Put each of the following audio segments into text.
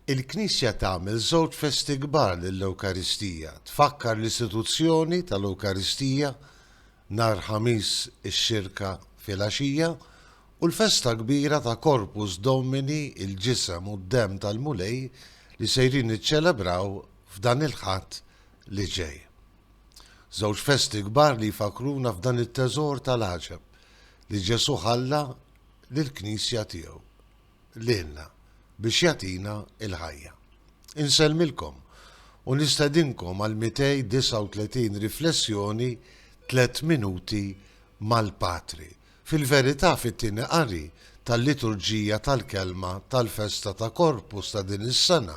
Il-Knisja tagħmel żewġ festi kbar lill-Ewkaristija, tfakkar l-istituzzjoni tal-Ewkaristija nhar Ħamis ix-Xirka filgħaxija u l-festa kbira ta' Corpus Domini, il-Ġisem u d-Demm tal-Mulej, li sejrin niċċelebraw f'dan il-Ħadd li ġej. Żewġ festi kbar li jfakkruna f'dan it-teżor tal-għaġeb li Ġesù ħalla lill-Knisja tiegħu lilna biex jagħtina l-ħajja. Insellmilkom u nistedinkom għal 239 riflessjoni Tliet Minuti mal-Patri, fil-verità fit-Tieni Qari tal-Liturġija tal-Kelma tal-Festa ta' Corpus ta' din is-sena,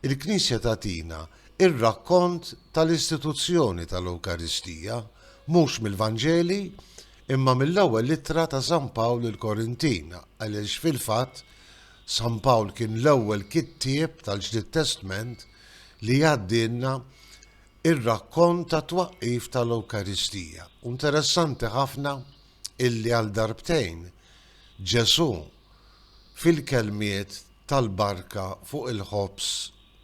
il-Knisja tagħtina r-rakkont tal-istituzzjoni tal-Ewkaristija, mhux mill-Vanġeli, imma mill-Ewwel Ittra ta' San Pawl lill-Korintin, għaliex fil-fatt San Pawl kien l-ewwel kittieb tal-Ġdid Testment li jgħaddielna r-rakkont tat-twaqqif tal-Ewkaristija. U interessanti ħafna illi għal darbtejn Ġesù fil-kelmiet tal-barka fuq il-ħobż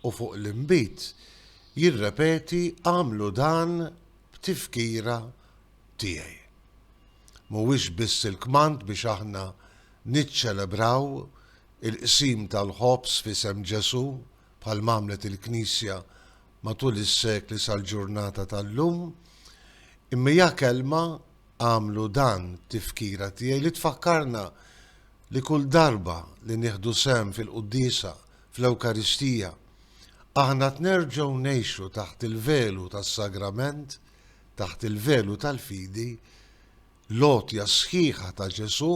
u fuq l-inbid jirrepeti għamlu dan b'tifkira tiegħi. Mhuwiex biss il-kmand biex aħna niċċelebraw il-qsim tal-ħobż f'isem Ġesù, bħalma għamlet il-Knisja matul is-sekli sal-ġurnata tal-lum, imma hija kelma, agħmlu dan tifkira tiegħi, li tfakkarna li kull darba li nieħdu sehem fil-Quddiesa, fl-Ewkaristija, aħna qed nerġgħu ngħixu taħt il-velu tas-Sagrament, taħt il-velu tal-fidi, l-għotja sħiħa ta' Ġesù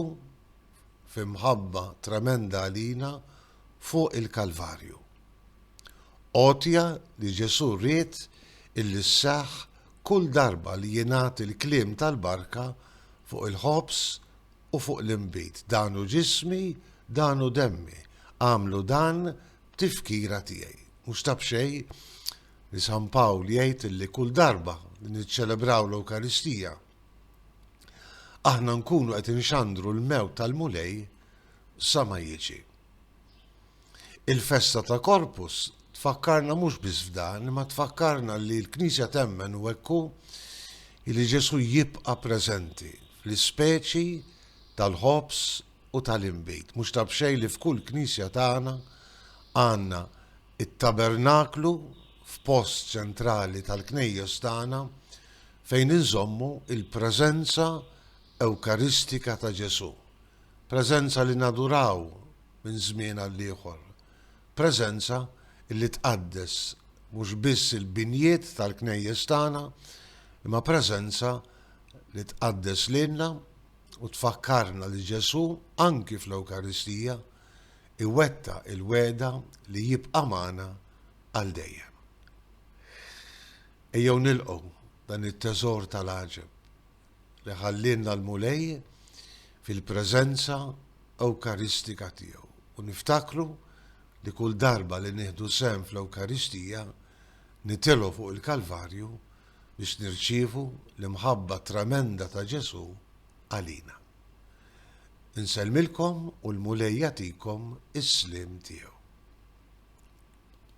f'imħabba tremenda għalina fuq il-Kalvarju. Għotja li Ġesù ried illi sseħħ kull darba li jingħad il-kliem tal-barka fuq il-ħobż u fuq l-inbid, dan hu ġismi, dan hu demmi, agħmlu dan b'tifkira tiegħi. Mhux ta' b'xejn, li San Pawl jgħid li kull darba li niċċelebraw l-Ewkaristija aħna nkunu qed inxandru l-mewt tal-Mulej sa ma jiġi. Il-festa ta' Korpus tfakkarna mhux biss f'dan, ma tfakkarna li l-Knisja temmen u ekku li Ġesu jibqa' preżenti fl-ispeċi tal-ħobs u tal-inbid. Mhux tabxej li f'kull Knisja tagħna għandna It-tabernaklu f'post ċentrali tal-Knejjes tagħna fejn inżommu l-preżenza Ewkaristika ta' Ġesù, preżenza li naduraw minn żmien għal ieħor, preżenza li tqaddes mhux biss il-binjiet tal-Knejjes tagħna imma preżenza li tqaddes lilna u tfakkarna li Ġesù anki fl-Ewkaristija iwettaq il-wegħda li jibqa' magħna għal dejjem. Ejjew nilqgħu dan it-teżor tal-għaġeb li ħallielna l-Mulej fil-preżenza Ewkaristika tiegħu u niftakru li kull darba li nieħdu sehem fl-Ewkaristija nitilgħu fuq il-Kalvarju biex nirċievu l-imħabba tremenda ta' Ġesù għalina. Insellmilkom u l-Mulej jagħtikom is-sliem tiegħu.